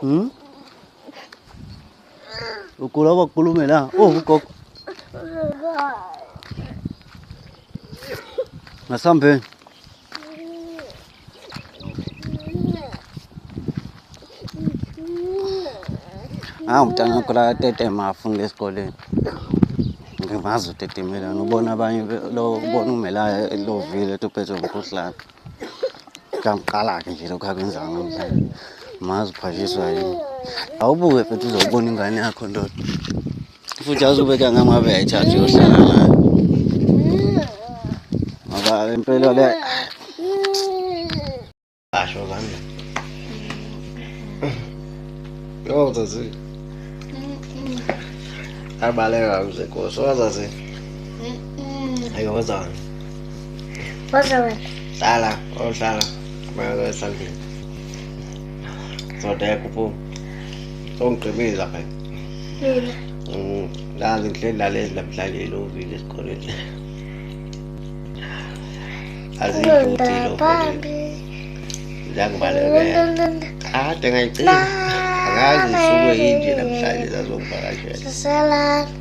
Hmm? Ugula kwakhulume la. Oh ugogo. Ngasambeni. Ah umntana wakho la tetema afunda esikoleni. Ngimazi utetemelana ubona abanye lo ubona umelayo lovile ethi uphethwe umkhuhlane. Kangiqala-ke nje lokhu akwenzayo namhlanje. Mazi uphashiswa yini. Awubuke futhi uzobona ingane yakho ndoda. Futhi azube kangangabe ayithathe uyohlala nayo. Ngoba impela le asho kanje. Yo zazi. Abaleka mzekho. So zazi. Ayo wazana. Waze wena. Hlala, ohlala. Mayelo esandleni. Ndoda yakho phuma. Songigqibeza phela. Mina. Mm, Ngazi ngihleli lalezi namhlanje elovile esikoleni. Azidluli Ngenda lo. phambi. Ngiyakubalekela. Ndondondonda. Kade ngayicela. Akazi isuke yinje namhlanje zazongivakashela. Sasala.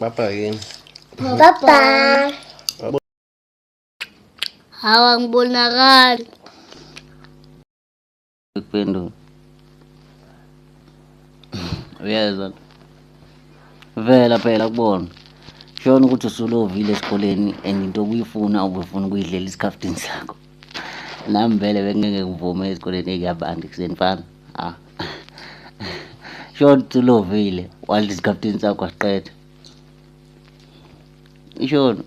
Bye bye yini. Bye bye. Hawa ngibonakala. Kuphendula. Uyezwa. Vela phela kubona. Shona ukuthi usulovile esikoleni and into obuyifuna ubufuna ukuyidlela isikhafutini sakho. nami vele bengeke ngivume ezikoleni ey'yabantu ekuseni fana ah. short ulovile while isikapteni sakho asiqeda ishona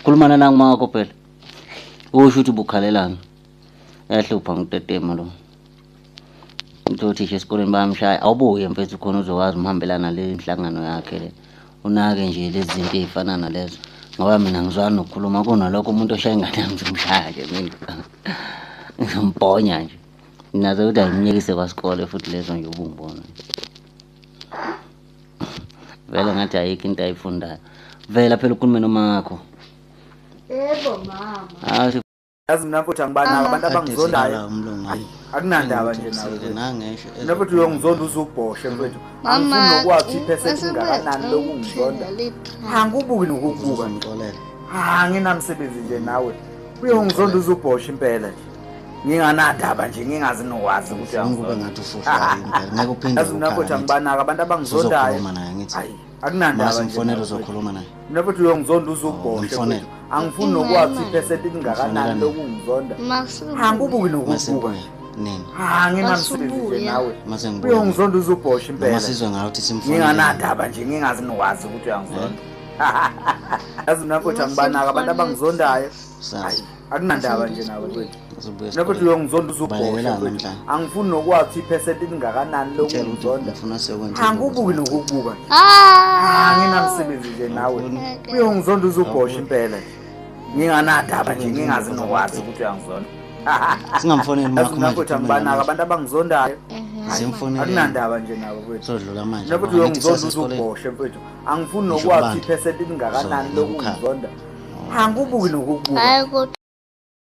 khulumana nangumakho phela usho ukuthi bukhalelani yahlupha ngutetema lo Uthe othisha esikoleni bayamshaya awubuye mfethu khona uzokwazi umhambelana le nhlangano yakhe le. Unake nje lezi zinto ey'fana nalezo. Ngoba mina ngizwani nokukhuluma kunalokho umuntu oshaya ingane yami ngizomshaya nje mina. Ngizombhonya nje. Nazo ukuthi angimyekise kwasikole futhi lezo nje ubungibona. Vele ngathi ayikho into ayifundayo. Vela phela ukhulume nomakho. Yebo mama. Hayi yazi mina mfowethu angibanako ah. abantu abangizondayo akunandaba nje nawe futhi uyongizonda uze ubhoshe mfowethu angifuni nokwazi iphesenti ingakanani lokungizonda angibuki nokukubuka anginamsebenzi nje nawe uyongizonda uze ubhoshe impela nje nginganadaba nje ngingazi nokwazi ukuthi angikube ngathi ufushwa impela ngeke uphinde uyazi mina futhi angibanaka abantu abangizondayo akunandaba nje mfonelo nawe. uzokhuluma naye mina futhi uyongizonda uze ugoshe Mfonele. futhi. angifuni nokwazi ukuthi iphesenti lingakanani lokungizonda angibubuki nokubuka masebuya nini ha nginamsebenzi nje Masubuya. nawe masengibuya uyongizonda uze ubhoshe noma impela sizwe ngayo ukuthi simfonele nginganandaba nje ngingazi nokwazi ukuthi uyangizonda yazi mina futhi angibanaka abantu abangizondayo sazi akunandaba nje nawe kwethu nakho thi uyongizonda uzobhosha angifuni nokwazi iphesenti elingakanani lokungizonda angibuki nokukubuka ah! anginamsebenzi nje nawe uyongizonda uzobhosha impela nginganadaba nje ngingazi nokwazi ukuthi uyangizonda singamfoneli makhomakhothi angibanaka abantu abangizondayo akunandaba nje nawe kwethu nakho thi uyongizonda uzobhosha mfethu angifuni nokwazi iphesenti elingakanani lokungizonda angibuki nokukubuka